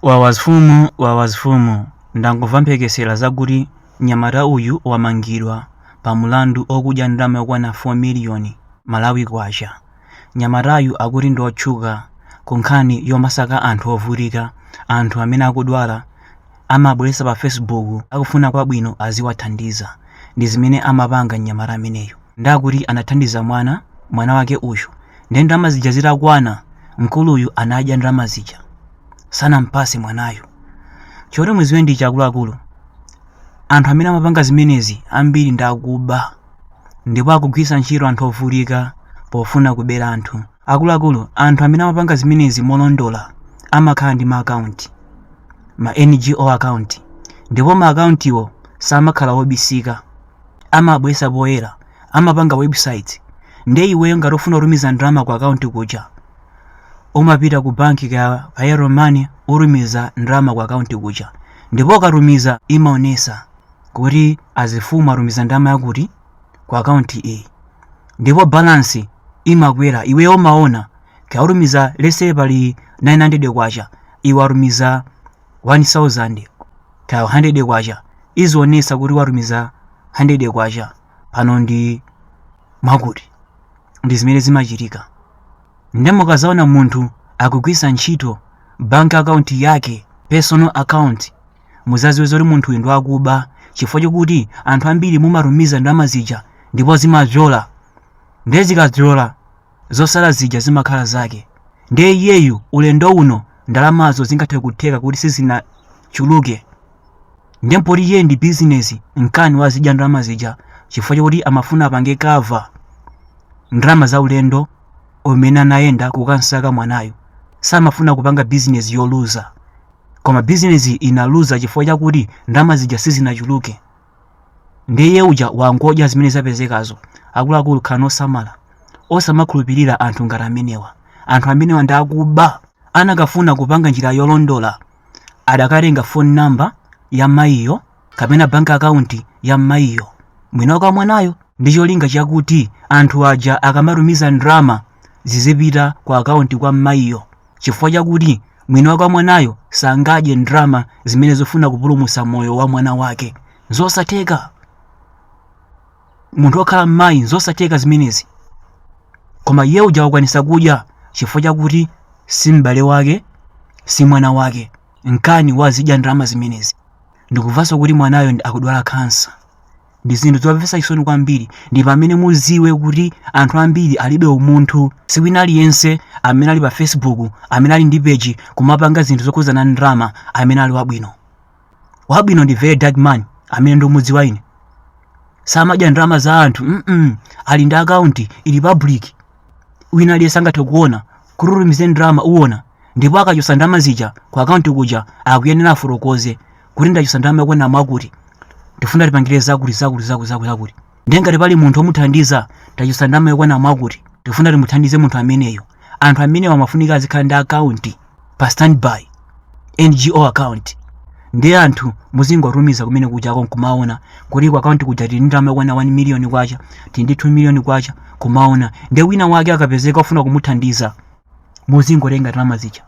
Wawazfumu wawazfumu ndangomva mphekesela zakuti nyamata uyu wamangidwa pa mulandu okudya ndalama yokwana 4 million malawi kwacha nyamatayu akuti ndiotchuka ku nkhani yomasaka anthu ovutika anthu amene akudwala amabwelesa pa facebook akufuna kwabwino aziwathandiza ndi zimene amapanga nyamata ameneyu nde akuti anathandiza mwana mwana wake uyu nde ndalama zija zitakwana mkuluyu anadya ndalama zija sanampase mwanayo choti muziwe ndicha akuluakulu anthu amene amapanga zimenezi ambiri ndi akuba ndipo akugwiritsa ntchito anthu ovutika pofuna kubera anthu akuluakulu anthu amene amapanga zimenezi molondola amakhala ndi maakaunti ma NGO akaunti ndipo maakauntiwo samakhala obisika amabwesa poyera amapanga website nde iweyo ngati ufuna kutumiza ndalama ku akaunti kuja umapita ku banki kaya Airtel Money utumiza ndalama ku akaunti kuja ndipo ukatumiza imaonesa kuti azifumu atumiza ndalama yakuti ku akaunti iyi ndipo balansi imakwera iweyo umaona ka usatumize lese pali 900 kwacha iwe watumiza 1000 kaya 100 kwacha izionesa kuti watumiza 100 kwacha pano ndi mwakuti ndi zimene zimachitika nde mukazaona munthu akugwisa ntchito bank account yake personal account muzaziwe zoti munthu uyu ndi wakuba chifukwa chokuti anthu ambiri mumatumiza ndalama zija ndipo zimapyola nde zikapyola zosala zija zimakhala zake ndiye iyeyu ulendo uno ndalamazo zingathe kutheka kuti sizinachuluke ndiye mpoti iye ndi bizinesi nkani wazidya ndalama zija chifukwa chakuti amafuna apange kava ndalama za ulendo umene anayenda kukansaka mwanayo samafuna kupanga bizinesi yoluza koma bizinesi inaluza chifukwa chakuti ndalama zija sizinachuluke ndiye uja wangodya zimene zapezekazo akuluakulu khalani osamala osamakhulupirira anthu ngati amenewa anthu amenewa ndi akuba anakafuna kupanga njira yolondola adakatenga phone number ya mayiyo kapena bank account ya mayiyo mwini wake wa mwanayo ndi cholinga chakuti anthu aja akamatumiza ndalama zizipita ku akaunti kwa mayiyo chifukwa chakuti mwini wake wa mwanayo sangadye ndalama zimene zofuna kupulumutsa moyo wa mwana wake zosatheka munthu wokhala mmayi zosatheka zimenezi koma iye uja wakwanisa kudya chifukwa chakuti si m'bale wake si mwana wake nkani wazidya ndalama zimenezi ndikumvanso kuti mwanayo ndi- akudwala kansa ndi zinthu zomvetsa chisoni kwambiri ndi pamene muziwe kuti anthu ambiri alibe umunthu siwina aliyense amene ali pa facebook amene ali ndi peji kumapanga zinthu zokhudzana ndi ndalama amene ali wabwino wabwino ndi very dark man amene ndikumudziwa ine samadya ndalama za anthu mm ali ndi akaunti ili public wina aliyense angathe kuona kutumize ndalama uona ndipo akachosa ndalama zija ku akaunti kuja akuyenera afotokoze kuti ndachotsa ndalama yakwana mwakuti tifuna tipangire zakuti zakuti zakuti zakuti zakuti ndiye ngati pali munthu omuthandiza tachotsa ndalama yakwana mwakuti tifuna timuthandize munthu ameneyo anthu amenewo amafunika azikhala ndi akaunti pa standby ngo account ndiye anthu muzingotumiza kumene kuja ako nkumaona kuti ku akaunti kuja tili ndi ndalama yakwana 1 miliyoni kwacha tili ndi 2 miliyoni kwacha kumaona ndiye wina wake akapezeka ofuna kumuthandiza muzingotenga ndalama zija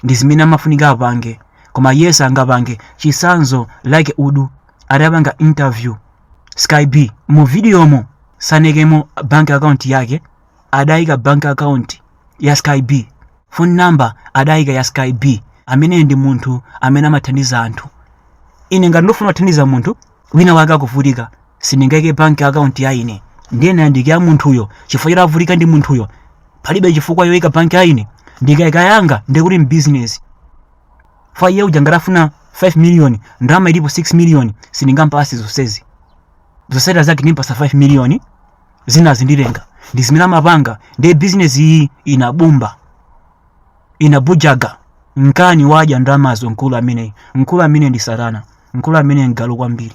ndi zimene amafunika apange koma yense angapange chisanzo like udu adapanga interview sky b mu videomo sanaikemo bank account yake adayika bank account ya sky b phone number adayika ya sky b ameneyo ndi munthu amene amathandiza anthu ine ngati ndofuna kuthandiza munthu wina wake akuvutika sindingaike bank account ya ine ndiye ndayandikira munthuyo chifukwa choti avutika ndi munthuyo palibe chifukwa yoika bank ya ine ndikaika yanga ndiye kuti mbusiness fa iye uja ngatafuna 5 million ndalama ilipo 6 million sindingampase zonsezi zonsezi zake ndimpasa 5 million zinazi ndirenga ndi zimene amapanga ndiye business iyi inabumba inabujaga nkani wadya ndalamazo mkulu ameneyi mkulu ameneyi ndi satana mkulu ameneyi ngalu kwambiri